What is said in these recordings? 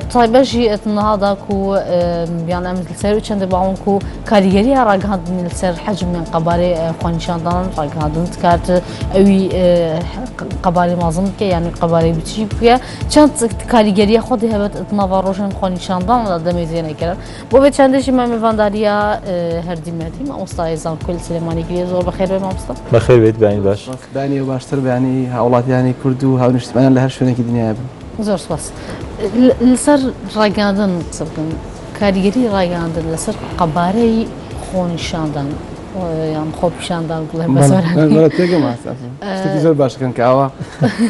بتای بەژی ئەت نهادا کو بیان ئەم سەر و چەندە باون کو کاریگەری ها ڕاگهاندنی سەر حەجم من قەبارەی خۆنیشاندان ڕاگهاندن کارت ئەوی قەبارەی مازم بکە یانی قەبارەی بچی بکە چەند کاریگەریە خۆ دهبێت ئەتناوا ڕۆژن خۆنیشاندان لە دەمێ زیێنە کرد بۆ بێ چندێکی مامێڤانداریە هەردیمەتی مامۆستای زانکۆل سلێمانی گرێ زۆر بەخێر بێ مامۆستا بەخێر بێت بانی باش بانی باشتر بانی هاوڵاتیانی کورد و هاونیشتمانیان لە هەر شوێنێکی دنیا بن زۆر سوپاس. لەسەر ڕاگەیاندن قسە بکەین، کاریگەری ڕاگەیاندن لەسەر قەبارەی خۆنیشاندان یان خۆپیشاندان بڵێم بە سۆرانی. بەڵێ تێگەم ماستە ئەزم شتێکی زۆر باشەکەن کە ئاوا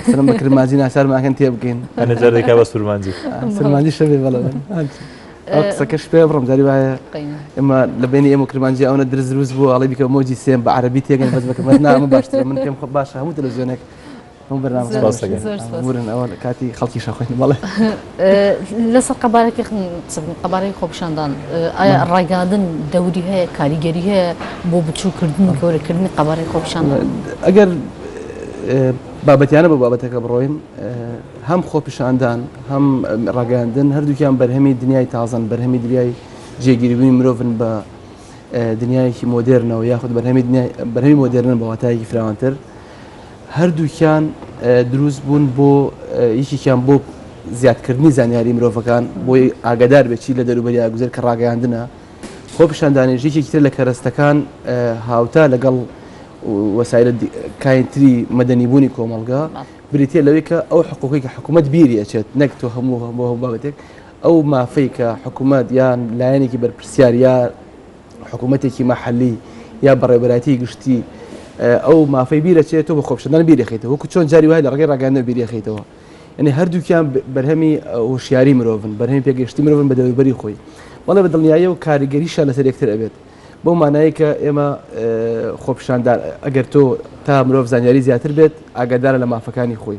سەرم بە کرمانجی ناچارمان ئەکەن تێبگەین. ئەنێ جار دەکا بە سورمانجی. سورمانجی شەبێ بەڵێ بەڵێ. ئەو قسەکەش پێ بڕم جاری وایە ئێمە لە بینی ئێمە کرمانجی ئەوەنە درز دروست بووە ئەڵێ بیکە مۆجی سێم بە عەرەبی تێگەن بەس بە کرمانجی نا ئەمە باشترە من پێم خۆ باشە هەموو تەلەڤزیۆنێک لەسەر قەبارەکی قەبارەی خۆپشاندان ئایا ڕایگەاندن دەوری هەیە کاریگەری هەیە بۆ بچووکردن گەورەکردنی قەبارەی خۆپشان ئەگەر بابەتیانە بە بابەتەکە بڕۆین هەم خۆپیشاندان هەم ڕاگەاندن هەردووکیان بەرهەمی دنیای تازن بەرهەمی دریای جێگیربوونی مرۆڤن بە دنیایەکی مۆدررنەوە یاخود بەرهەمی بەرهەمی مۆدررن بەواتایەکی فراوانتر هەردووکیان دروست بوون بۆ یەکێکیان بۆ زیادکردنی زانیاری مرۆڤەکان بۆی ئاگادار بێت چی لە دەروبەریا گوزەر کە ڕاگەیاندنە خۆ پیشاندانێژ یەکێکی تر لە کەرەستەکان هاوتا لەگەڵ وەسایل کاینتری مەدەنیبوونی کۆمەلگا بریتە لەوەی کە ئەو حقوقی کە حکوومەت بیری ئەچێت نەک تۆ هەموو هەموو هەموو بابەتێک ئەو مافەی کە حکوومەت یان لایەنێکی بەرپرسیار یا حکوومەتێکی مەحلی یا بەڕێبەراتی گشتی ئەو مافەی بیرەچێت و بە خۆپشدان بیرەخیتەوە وەکو چۆن جاری وای لە ڕگەی ڕگەندە بیرەخیتەوە یعنی هەردووکیان بەرهەمی هۆشیاری مرۆڤن بەرهەمی پێگەشتی مرۆڤن بە دەوروبەری خۆی بەڵێ بە دڵنیایی و کاریگەریشە لەسەر یەکتر ئەبێت بۆ مانایی کە ئێمە خۆپشاندان ئەگەر تۆ تا مرۆڤ زانیاری زیاتر بێت ئاگادارە لە مافەکانی خۆی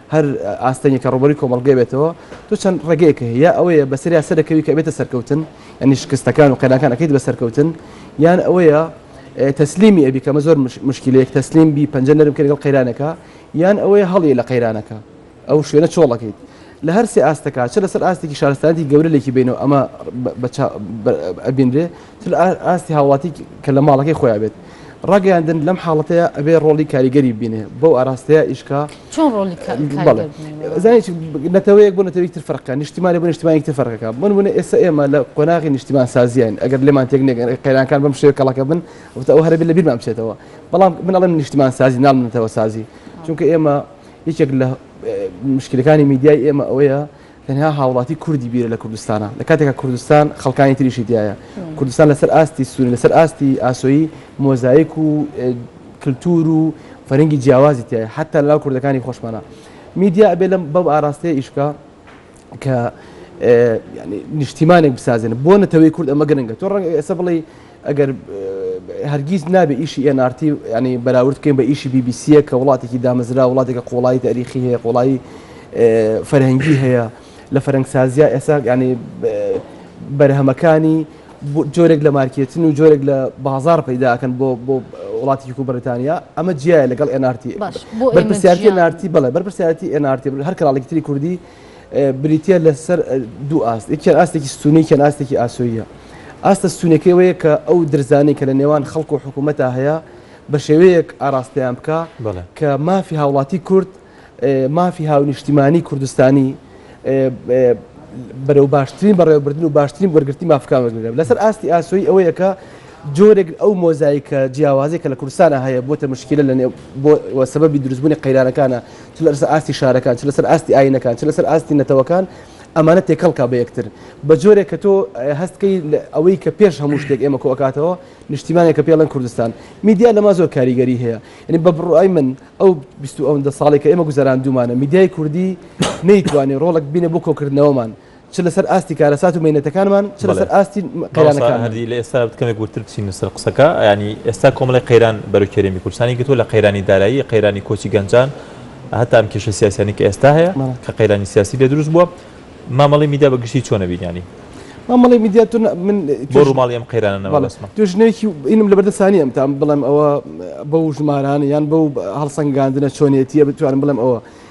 هەر ئاستەنگێک کە ڕووبەرووی کۆمەڵگە بێتەوە، تۆ چەند ڕێگەیەک هەیە، یا ئەوەیە بەسەریا سەرەکەوی کە ئەبێتە سەرکەوتن، یانی شکستەکان و قەیرانەکان ئەکەیت بە سەرکەوتن، یان ئەوەیە تەسلیمی ئەبی، کە ئەمە زۆر موشکیلەیەک تەسلیم بی، پەنجە نەرم کەی لەگەڵ قەیرانەکە، یان ئەوەیە هەڵیی لە قەیرانەکە، ئەو شوێنە چۆڵ ئەکەیت. لە هەر سێ ئاستەکە، چ لەسەر ئاستێکی شارستانیەتی گەورە لێکی بەینەوە ئەمە بە چاو ئەبینرێ، چ لە ئاستی هاوڵاتی کە لە ماڵەکەی خۆیان بێت. ڕاگەیاندن لەم حاڵەتەیە ئەبێ ڕۆڵی کاریگەری بینێ بەو ئاراستەیە ئیشکا چۆن ڕۆڵی زانانی نەتەوەیەک بۆ نەتەوەی تر فەرقە نیشتیمانی بۆ نیشتمانی تر فەرقەکە من بوون ئێستا ئێمە لە قۆناغی نیشتیمان سازیین ئەگەر لێمان تێک نێگەن قەیرانەکان بەم شێوە کەڵەکە بن وتە ئەو هەربی لە بیرمان بچێتەوە بەڵام من ئەڵێم نیشتیمان سازی ناڵ نەتەوە سازی چونکە ئێمە یەکێک لە مشکلەکانی میدیای ئێمە ئەوەیە تەنها هاوڵاتی کوردی بیرە لە کوردستانا لە کاتێکا کوردستان خەڵکانی تریشی تایە کوردستان لەسەر ئاستی سووری لەسەر ئاستی ئاسۆیی مۆزایک و کللتور و فەرنگی جیاوازی تایە حتا لەناو کوردەکانی خۆشمانە میدیا ئەبێ لەم بەم ئاراستەیە ئیشکە کە نیشتیمانێک بسازێن بۆ نەتەوەی کورد ئەمە گرنگە تۆ ڕەنگ ئێستا بڵێ ئەگەر هەرگیز نابێ ئیشی ئێن ئار تی ینی بەراورد بکەین بە ئیشی بی بی سیە کە وڵاتێکی دامەزرا وڵاتێکە قۆڵایی تاریخی هەیە قۆڵایی فەرهەنگی هەیە لە فەرەنگسازیا ئێسا ینی بەرهەمەکانی جۆرێک لە مارکێتن و جۆرێک لە بازار پەیداکەن بۆ بۆ وڵاتیک و بەریتانیا ئەمە جیایە لەگەڵ ئەنارتی بەرپسیارتی نارتی بڵێ بەرپسیارتی ئەنارتی هەر کراڵێکتری کوردی بریتییە لە سەر دوو ئاست، یەکیان ئاستێکی ستوونی یەکیان ئاستێکی ئاسۆییە. ئاستە ستوونیەکەی ئەوەیە کە ئەو درزانەی کە لە نێوان خەڵک و حکوومەتا هەیە بە شێوەیەک ئاراستەیان بکا کە مافی هاوڵاتی کورد، مافی هاونیشتیمانی کوردستانی بەرەو باشترین بەڕێوەبردن و باشترین وەرگرتنی مافەکان وەربگرێ. لە سەر ئاستی ئاسۆیی ئەوەیە کە، جۆرێک ئەو مۆزایکە جیاوازەی کە لە کوردستانا هەیە بۆتە مشکیلە لە نێو بۆ و سەبەبی دروست بوونی قەیرانەکانە چ لە سەر ئاستی شارەکان چ لە سەر ئاستی ئاینەکان چ لە سەر ئاستی نەتەوەکان ئەمانە تێکەڵ کا بە یەکتر بە جۆرێک کە تۆ هەست کەی ئەوەی کە پێش هەموو شتێک ئێمە کۆ ئەکاتەوە نیشتیمانێک کە پێڵێن کوردستان میدیا لە ما زۆر کاریگەری هەیە یعنی بە بڕای من ئەو بیست و ئەوەندە ساڵێک کە ئێمە گوزەراندوومانە میدیای کوردی نەیتوانی ڕۆڵێک بینێ بۆ کۆکردنەوەمان چ لەسەر ئاستی کارەسات و مینەتەکانمان چ لەسەر ئاستی قەیرانەکان هەردی لە ئێستا بکەمێک وتر بچین سەر قسەکە ینی ئێستا کۆمەڵی قەیران بەرو کێرێمی کورسانی گرتووە لە قەیرانی دارایی قەیرانی کۆچی گەنجان هەتا ئەم کێشە سیاسیانی کە ئێستا هەیە کە قەیرانی سیاسی لە دروست بووە مامەڵی میدیا بە گشتی چۆنە بینیانی مامەڵی میدیاتون من بۆ ڕووماڵی ئەم قەیرانەوە توژنێکی ئینم لە بەردە سانی ئەم تام بڵێم ئەوە بەو ژمارانە یان بەو هەڵسەنگاندنە چۆنیەتیە بتوانم بڵێم ئەوە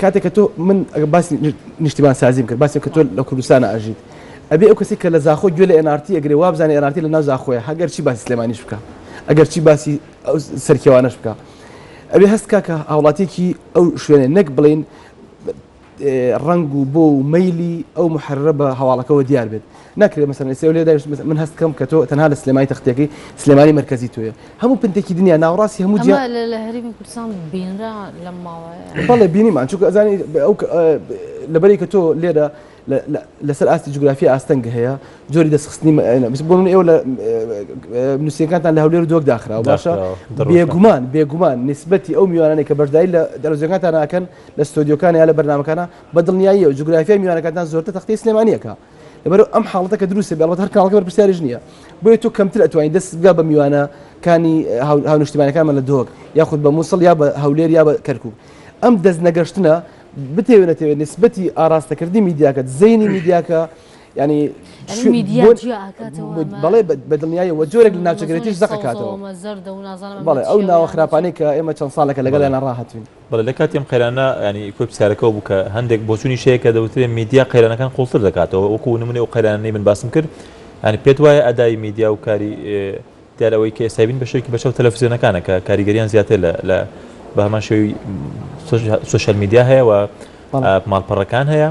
کاتێک کە تۆ من ئەگەر باسی نیشتیمان سازیم کرد باسی کە تۆ لە کوردستان ئەژیت ئەبێ ئەو کەسی کە لە زاخۆ گوێ لە ئێن ئارتی ئەگرێ وابزانێ ئێن ئارتی لە ناو زاخۆیە هەگەر چی باسی سلێمانیش بکا ئەگەر چی باسی سەرکێوانەش بکا ئەبێ هەست کا کە هاوڵاتیەکی ئەو شوێنێ نەک بڵین ڕنگ و بۆ و مەلی ئەو محررە بە هەواڵەکەەوە دیار بێت ناکرێت مەسەلەن ئێستا لێ دانیشت مەسەلەن من هەست بکەم کە تۆ تەنها لە سلێمانی تەختێکەی سلێمانی مەرکەزی تۆیە هەموو پنتێکی دنیا ناوەڕاستی هەموو جیا ئەمە لە لە هەرێمی کوردستان بینرا لەم ماوەیە بەڵێ بینیمان چونکە ئەزانی بە- ئەو کە- ئە، ب- لەبەرەی کە تۆ لێرە لە- لە- لەسەر ئاستی جوگرافیا ئاستەنگ هەیە جۆری دەستخستنی م- ئەە، بس بۆ من ئێوە لە م- نووسینەکانتان لە هەولێر و دۆک داخراوە باشە داخراوە، دڕوشە. بێگومان بێگومان نیسبەتی ئەو میوانانەی کە بەشداری لە دەرەوزیەکانتان ناکەن لە ستۆدیۆکان یا لە بەرنامەکانە بە دڵنیاییەوە جوگرافیای میوانەکانتان زۆرتر تەختەی سلێمانییەکە لەبەر ئەم حاڵەتە کە دروستە بێڵەت هەر کاڵکە بەرپسیارش نییە بۆیە تۆ کەمتر ئەتوانین دەست بگا بە میوانە کانی هاونشتیمانەکانمان لە دۆک یاخود بە مووسڵ یا بە هەولێر یا بە کەرکک ئەم دەست نەگەشتنە بتێونەتەوێت نسبەتی ئاراستەکردنی میدیاکەت زەینی میدیاکە ینی بەڵێ بە دڵنیایی وە جۆرێک لە ناوچەگرێتیش زەقەکاتەوە بەڵێ ئەو ناوە خراپانەی کە ئێمە چەند ساڵەکە لەگەڵیان ڕاهاتوین بەڵێ لە کاتی ئەم قەیرانە یانی کۆی پرسیارەکەەوە بوو کە هەندێک بۆچوونی شەیە کە دەوترێت میدیا قەیرانەکان قوڵتر دەکاتەوە وەکو نمونێ و قەیرانەی من باسم کرد ینی پێت وایە ئەدای میدیا و کاری دیار ئەوەی کە ئێستای بین بەشێکی بەشە و تەلەفزیۆنەکانە کە کاریگەریان زیاتر لە لە بە هەمان شێوی سوشل میدیا هەیە و ماڵپەڕەکان هەیە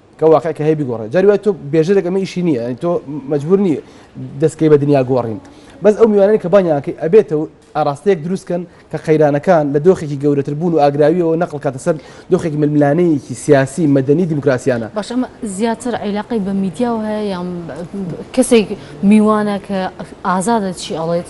کە واقع کە هەیە بیگۆڕێ جاری وای تۆ بێژەرێک ئەمە ئیشی نییە یعنی تۆ مەجبور نی دەستکەی بە دنیا گۆڕین بەس ئەو میوانەی کە بانیانکەی ئەبێتە و ئاراستەیەک دروستکەن کە قەیرانەکان لە دۆخێکی گەورەتر بوون و ئاگراویەوە نەقل کاتە سەر دۆخێکی ململانەیەکی سیاسی مەدەنی دیموکراسیانە باش ئەمە زیاتر عیلاقی بە میدیاەوە هەیە یان کەسێک میوانە کە ئازادە چی ئەڵێت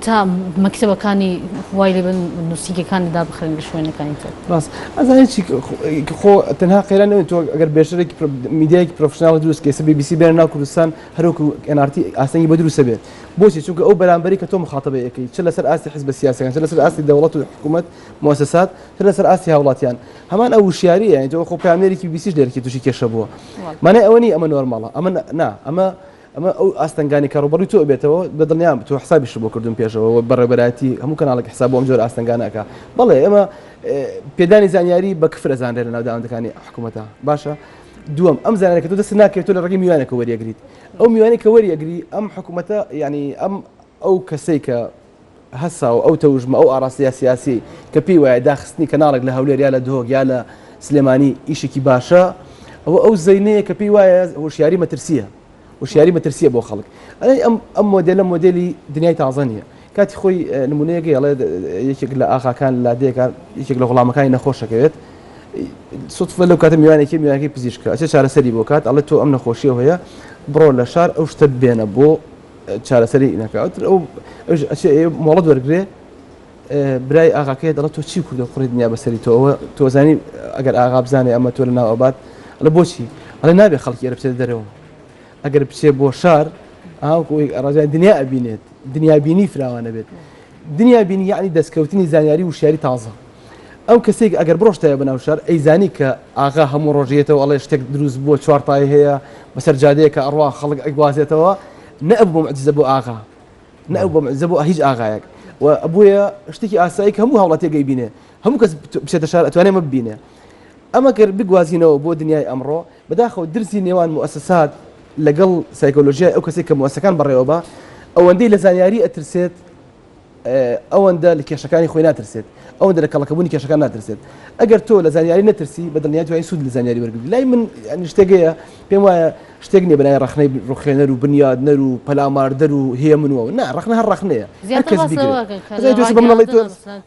تا مەکتەبەکانی خوای لێ بن نوسینگەکانی دابخرێن لە شوێنەکانی تر. ڕاست ئەزا هیچی خۆ تەنها قەیران نەوێت تۆ ئەگەر بێشترێکی میدیایەکی پرۆفشناڵ دروست کەی سە بی بی سی بێنە ناو کوردستان هەروەکو ئێن ئار تی ئاستەنگی بۆ دروستە بێت بۆچی چونکە ئەو بەرامبەری کە تۆ مخاطبەی ئەکەی چ لەسەر ئاستی حزبە سیاسەکان چ لەسەر ئاستی دەوڵەت و حکوومەت موسسات چ لەسەر ئاستی هاوڵاتیان هەمان ئەو وشیاریە یعنی تۆ خۆ پامێرێکی بیسیش لێرکی تووشی کێشە بووە مانای ئەوە نی ئەمە نۆرماڵە ئەمە نا ئەمە ئەمە ئەو ئاستەنگانەی کە ڕووبەڕووی تۆ ئەبێتەوە، بە دڵنیام تۆ حسابیشت بۆ کردوون پێشەوە و بەڕێوەبەرایەتی هەموو کەناڵێک حساب بۆ ئەم جۆرە ئاستەنگانە ئەکا. بەڵێ ئێمە پێدانی زانیاری بە کفر ئەزانرێ لە ناوداوەندەکانی حکوومەتا. باشە دووەم، ئەم زانیاریە کە تۆ دەستت ناکەوێت تۆ لە ڕێگەی میوانێکەوە وەریەگریت. ئەو میوانەی کە وەریەگری ئەم حکوومەتە یانی ئەم ئەو کەسەی کە، هەسا و ئەو تەوژمە، ئەو ئاڕاستەیە سیاسییەی کە پێی وایە داخستنی کەناڵێک لە هەولێر یا لە دهۆک یا لە سلێمانی ئیشێکی باشە، ئەوە ئەو زەینەیە کە پێی وایە هۆشیاری مەترسییە، هۆشیاری مەترسییە بۆ خەڵک. ئەی ئەم ئەم مۆدێلە مۆدێلی دنیای تازە نییە. کاتی خۆی نموونەیەک هەیە، ئەڵێ یەکێک لە ئاغاکان لادێکە، یەکێک لە غوڵامەکانی نەخۆش ئەکەوێت، سوتفە لەو کاتە میوانێکی هەیە، میوانەکەی پزیشکە، ئەچێ چارەسەری بۆ کات، ئەڵێ تۆ ئەم نەخۆشییە هەیە، بڕۆ لە شار ئەو شتە بێنە بۆ. چارەسەری نەکەوتر ئەو مۆڵەت وەرگێ برای ئاغاکەی دەڵە تۆ چی کوردە کوڕی دنیا بەسەری تۆەوە تۆزانی ئەگەر ئاغا بزانێ ئەمە تۆ لە ناوەبات لە بۆچی ئەڵێ نابێ خەڵکی ئەرە بچێت دەرەوە ئەگەر بچێ بۆ شار ئاوکۆی ئەڕژای دنیا ئەبینێت دنیابینی فراوانە بێت دنیابینی یعنی دەستکەوتنی زانیاری وشیاری تازە ئەو کەسێک ئەگەر بڕۆشتایە بەناو شار ئەیزانی کە ئاغا هەموو ڕۆژ یێتەوە ئەڵێ شتێک دروست بووە چوار پای هەیە بەسەر جادەیەکە ئەڕوا خەڵک ئەیگوازێتەوە نە ئەبوو معجزە بۆ ئاغا نە ئەبوو معجزە بۆ هیچ ئاغایەک و ئەبوویە شتێکی ئاسایی کە هەموو هەوڵاتێک ئەیبینێ هەموو کەس بچێتە شار ئەتوانێ مە ببینێ ئەمە گەر بگوازینەوە بۆ دنیای ئەمڕۆ بەداخەوە درسی نێوان موسسات لەگەڵ سایکۆلۆژیای ئەو کەسێک کە موسەکان بەڕێوە بە ئەوەندەی لە زانیاری ئەترسێت ئەوەندە لە کێشەکانی خۆی ناترسێت ئەوەندە لە کەڵەکەبوونی کێشەکان ناترسێت ئەگەر تۆ لە زانیاری نەترسی بە دڵنیات وای سوود لە زانیاری وەرگری لای من شتێگەیە پێم وایە شتێک نیە بەای ڕخنەی ڕخێنەر و بنیادنەر و پەلاماردەر و هەیە منەوە نا ڕخنە هەر ڕخنەیە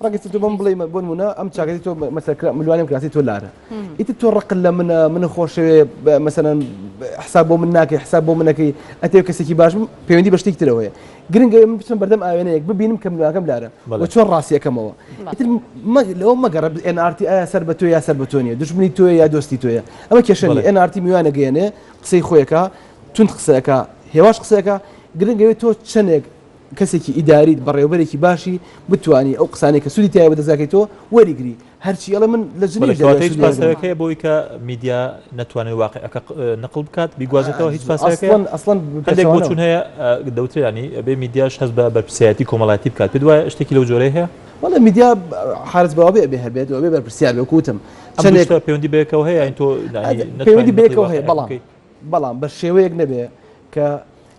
ڕگەی تو بم بڵێ بۆ منە ئەم چاگەی تۆ مەسەرکرا ملوانم کراسی تۆ لارە ئیتر تۆ ڕق لە منە من خۆشەوێ مەسەەن حساب بۆ من ناکەی حساب بۆ منەکەی ئەتێ کەسێکی باش پەیوەندی بە شتێک ترەوەیە گرنگە من بچم بەردەم ئاوێنەیەک ببینم کەم نواکەم لارە بە چۆن ڕاستیەکەمەوە لەو مەگەڕ NRT ئایا سەر بە تۆ یا سەر بە تۆ نیە دشمنی تۆ یا دۆستی تۆیە ئەمە کێشەنی NRT میوانە گەێنێ قسەی خۆیەکە تون قسەکە هێواش قسەکە گرنگەوێت تۆ چەندێک کەسێکی ئیداریت بەڕێوبەرێکی باشی بتانی ئەو قسانێک کە سوودی تایە بە دەزاکەی تۆ وەریگری هەرچی ئەڵێ من لە جنیو دەریا هیچ پاساوێک هەیە بۆی کە میدیا نەتوانێت واقعەکە نقل بکات بیگوازێتەوە هیچ پاساوێک ئەسڵەن هەندێک بۆچون هەیە دەوترێنی بێ میدیاش هەست بە بەرپسیایەتی کۆمەڵاتی بکات پێ دوایە شتێکی لەو جۆرە هەیە وڵە میدیا حالت بەوابێ بێ هەبێت و بێ بەرپسیار بێ کوتم چەندێک پەیوەندی بێکەوە هەیە تۆ پەیوەندی بێکەوە هەیە بەڵام بەڵام بە شێوەیەک نەبێ کە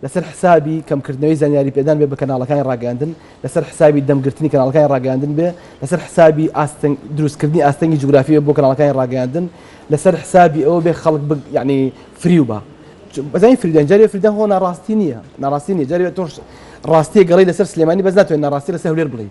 لەسەر حسابی کەمکردنەوەی زانیاری پێدان بێ بە کەناڵەکانی ڕاگەیاندن، لەسەر حسابی دەمگرتنی کەناڵەکانی ڕاگەیاندن بێ، لەسەر حسابی ئاستنگ دروستکردنی ئاستەنگی جوگرافی بێ بۆ کەناڵەکانی ڕاگەیاندن، لەسەر حسابی ئەوە بێ خەڵک بگ یانی فریو با. بەزانی فریودان جاری فریودان خۆ ناڕاستی نییە ناڕاستی نییە جاری تۆش ڕاستیە گەڵی لەسەر سلێمانی بەس ناتوانین ناڕاستی لەسەر هەولێر بڵێی.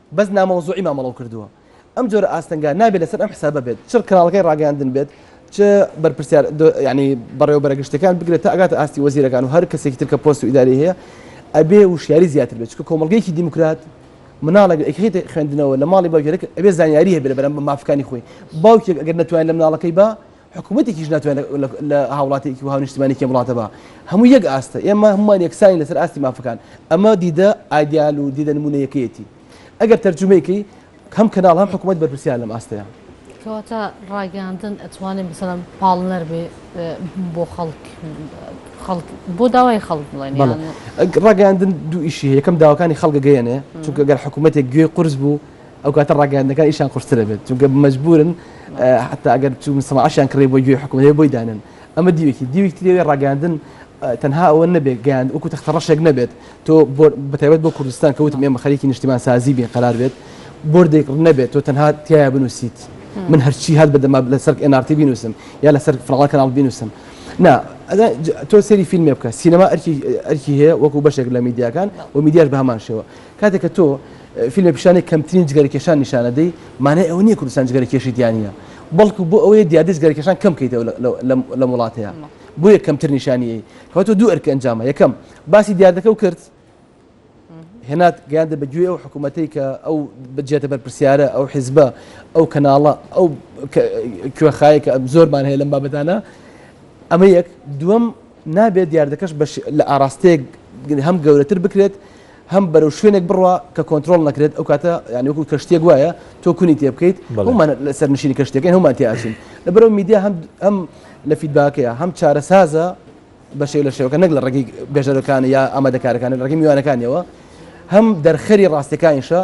بەس نامەوزوعی مامەڵەو کردووە. ئەم جۆرە ئاستەنگە نابێت لەسەر ئەم حسابە بێت چ کەناڵەکەی ڕاگەیاندن بێت چ بەرپرسیار یانی بەڕێوەبەرە گشتەکان بگرێت تا ئەگاتە ئاستی وەزیرەکان و هەر کەسێکی تر کە پۆست و ئیداری هەیە ئەبێ وشیاری زیاتر بێت چکە کۆمەڵگەیەکی دیموکرات مناڵێک ئەکرێتە خوێندنەوە لە ماڵی باوکێک ئەبێ زانیاری هەبێت لە بەرامبەر مافەکانی خۆی باوکێک ئەگەر نەتوانێت لە مناڵەکەی با حکومەتێکیش ناتوانێت لە هاوڵاتیەکی وەها نیشتمانیکی وڵاتەبا هەموو یەک ئاستە ئێمە هەمووان یەکسانی لەسەر ئاستی مافەکان ئەمە دیدە ئایدیال و دیدە نمونەیەکەیەتی ئەگەر تەرجمەیەکی هەم کەناڵ هەم حکوومەت بەرپرسیار لەم ئاستەیە کەواتە ڕاگەاندن ئەتوانین بسەلم پاڵنەر بێ بۆ خەڵک خەڵک بۆ داوای خەڵک بڵێن ڕاگەاندن دوو ئیشی یەکەم داواکانی خەڵک گەیەنێ چونکە گەر حکوومەتێک گوێ قرس بوو ئەو کاتە ڕاگەیاندنەکان ئیشیان قورستر ئەبێت، چونکە مەجبوورن حەتا ئەگەر چوون سەناعەشیان کڕی بۆ گوێی حکومەت هەیە بۆی دانێن، ئەمە دیوێکی دیوێکی تری ئەوەیە ڕاگەیاندن تەنها ئەوە نەبێت گەیاند وەکو تەختەڕەشێک نەبێت تۆ بۆ بەتایبەت بۆ کوردستان کە وتم ئێمە خەریکی نیشتیمانسازی بین قەرار بێت بۆردێک نەبێت تۆ تەنها تیا بنووسیت من هەرچی هەر بەدەما لەسەر NRT بینوسم یا لەسەر فراڵا کەناڵ بینوسم نا ئەدا تۆ سێری فیلمێ بکە سینەما ئەرکی ئەرکی هەیە وەکو بەشێک لە میدیاکان و میدیاش بە هەمان شێوە کاتێک کە تۆ فیلمە پیشانی کەمترین جگەرەکێشان نیشانەدەی مانای ئەوە نییە کوردستان جگەرەکێشی تیانە بەڵکو بۆ ئەوەیە دیادی جگەرەکێشان کەم کەیتەوە لەم وڵاتەیە بۆیە کەمتر نیشانیی کەواتە دوو ئەرکە ئەنجامە یەکەم باسی دیاردەکە و کرد هێنات گەیاندە بە گوێ ئەو حکوومەتەی کە ئەو بجێتە بەرپسیارە ئەو حیزبە ئەو کەناڵە ئەو کوێخایە کە زۆرمان هەیە لەم بابەتانە ئەمە یەک دووەم نابێت دیاردەکەش لە ئاراستەیەک هەم گەورەتر بکرێت هەم بەرەو شوێنێک بڕوا کە کۆنترۆڵ نەکرێت ئەو کاتە یانی وەکو کەشتێک وایە تۆ کونی تێ بکەیت هەمان لەسەر نشینی کەشتەکەی هەمان تیاچین لە بەرەو میدیا هەم هەم لە فیدباکەیە هەم چارەسازە بە شێو لە شێوەکە نەک لە ڕێگەی بێژەرەکان یا ئامادەکارەکان لە ڕێگەی میوانەکانیەوە هەم دەرخەری ڕاستەکانیشە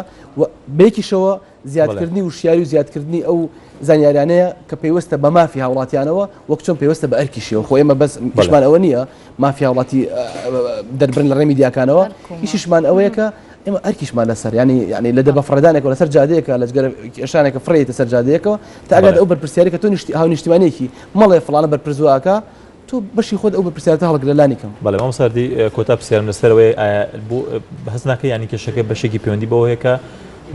بێکیشەوە زیادکردنی وشیاری و زیادکردنی ئەو زانیاریانەیە کە پەیوەستە بە مافی هاوڵاتیانەوە وەک چۆن پێوەستە بە ئەرکیشیەوە خۆ ئێمە بەس بەشمان ئەوە نییە مافی هاوڵاتی دەربرن لە ڕێمی دیاکانەوە هیچیشمان ئەوەیە کە ئێمە ئەرکیشمان لەسەر ینی ینی لە دەبە فڕدانێکەوە لەسەر جادەیەکە لە جگەر کێشانێکە فڕێتە سەر جادەیەکەوە تاگات ئەو بەرپرسیارێکە تۆ نیشتی هاو نیشتیمانێکی مەڵێ فلانە بەرپرزواکە تۆ بەشی خۆت ئەو بەپرسیارەتە هەڵگرە لانی کەم. بەڵێ مامۆستا هەردی کۆتا پرسیارم لەسەر ئەوەیە ئایا بۆ هەست ناکەی یانی کێشەکە بەشێکی پەیوەندی بەوە هەیە کە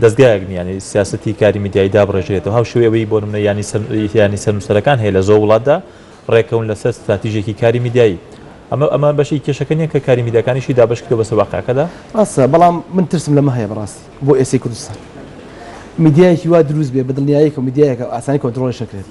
دەزگایەک نییە یانی سیاسەتی کاری میدیایی دابڕێژرێتەوە هاو شێوەی ئەوەی بۆ نمونە یانی سەر یانی سەرنووسەرەکان هەیە لە زۆر وڵاتدا ڕێکەون لەسەر ستراتیژێکی کاری میدیایی ئەمە ئەمە بەشی کێشەکە نییە کە کاری میدیاکانیشی دابەش کردەوە بەسەر واقعەکەدا ڕاستە بەڵام من ترسم لەمە هەیە بەڕاستی بۆ ئێستای کوردستان میدیایەکی وا دروست بێ بە دڵنیاییەکەوە میدیایەکە ئاسانی کۆنترۆڵیش نەکرێت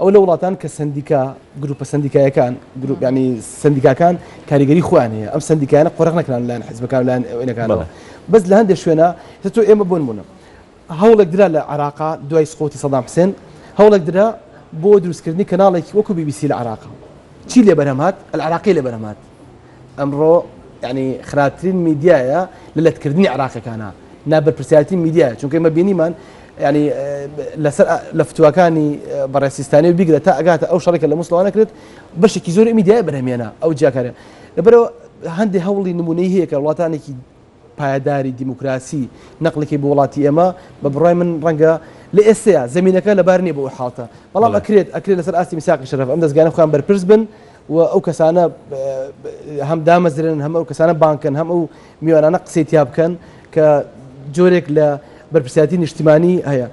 ئەوە لە وڵاتان کە سەندیکا گروپە سەندیکایەکان گروپ ینی سندیکاکان کاریگەری خۆیان هەیە ئەم سندیکایانە قۆرق نەکران لایەن حزبەکان لایەن ئەوەنەکانەوە بەس لە هەندێک شوێنە تۆ ئێمە بۆن بوونە هەوڵێک درا لە عراقا دوای سقوتی سەدام حسێن هەوڵێک درا بۆ دروستکردنی کەناڵێکی وەکو بی بی سی لە عراقا چی لێ بەرهەمات العراقی لێ بەرهەمات ئەمڕۆ یانی خراپترین میدیایە لە لەتکردنی عراقەکانە نا بەرپرسیارەتی میدیایە چونکە ئمە بینیمان ینی لەسەر لە فتوواکانی بەڕێسیستانی و بیگرە تا ئەگاتە ئەو شەڕێکە لە مسلوانە کرێت بەشێکی زۆر میدیای بەرهمێنە ئەو جیاکارە لەبەرەوە هەندێک هەوڵی نمونەی هەیە کە وڵاتانێکی پایەداری دیموکراسی نەقلەکەی بۆ وڵاتی ئێمە بە بڕای من ڕەنگە لە ئێستەیە زەمینەکە لەبار نییە بۆ ئەو حاڵتە بەڵام ئەکرێت ئەکرێت لەسەر ئاستی میساقی شەرەف ئەم دەستگانە خۆیان بەرپرس بن و ئەو کەسانە هەم دامەزرێنن هەم ئەو کەسانە بانکن هەم ئەو میوانانە قسەی تیا بکەن کە جۆرێک لە بەرپرسیاتی نیشتیمانی هەیە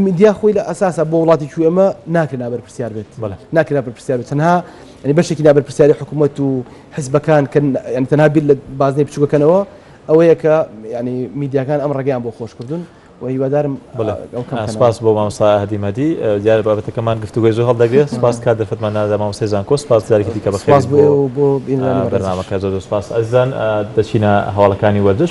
میدیا خۆی لە ئەساسە بۆ وڵاتی کوێ ئەمە ناکرێت نابەرپرسیار بێت ناکرا بەرپرسیار بێت تەنها بەشێکی نابەرپرسیاری حکوومەت و حزبەکان کە یانی تەنها بیر لە بازنەی بچووکەکەنەوە ئەوەیە کە یانی میدیاکان ئەم ڕێگەیان بۆ خۆش کردوون و هیوادارم سپاس بۆ مامسا هەدی مەدی دیارە بابەتەکەمان گفتوگوی زۆر هەڵدەگرێت سپاس کات دەرفەتمان نادا مامسای زانکۆ سپاس جارێکی دیکە بە خێر بۆ بۆ بەرنامەکە زۆر سپاس ئەزان دەچینە هەواڵەکانی وەرزش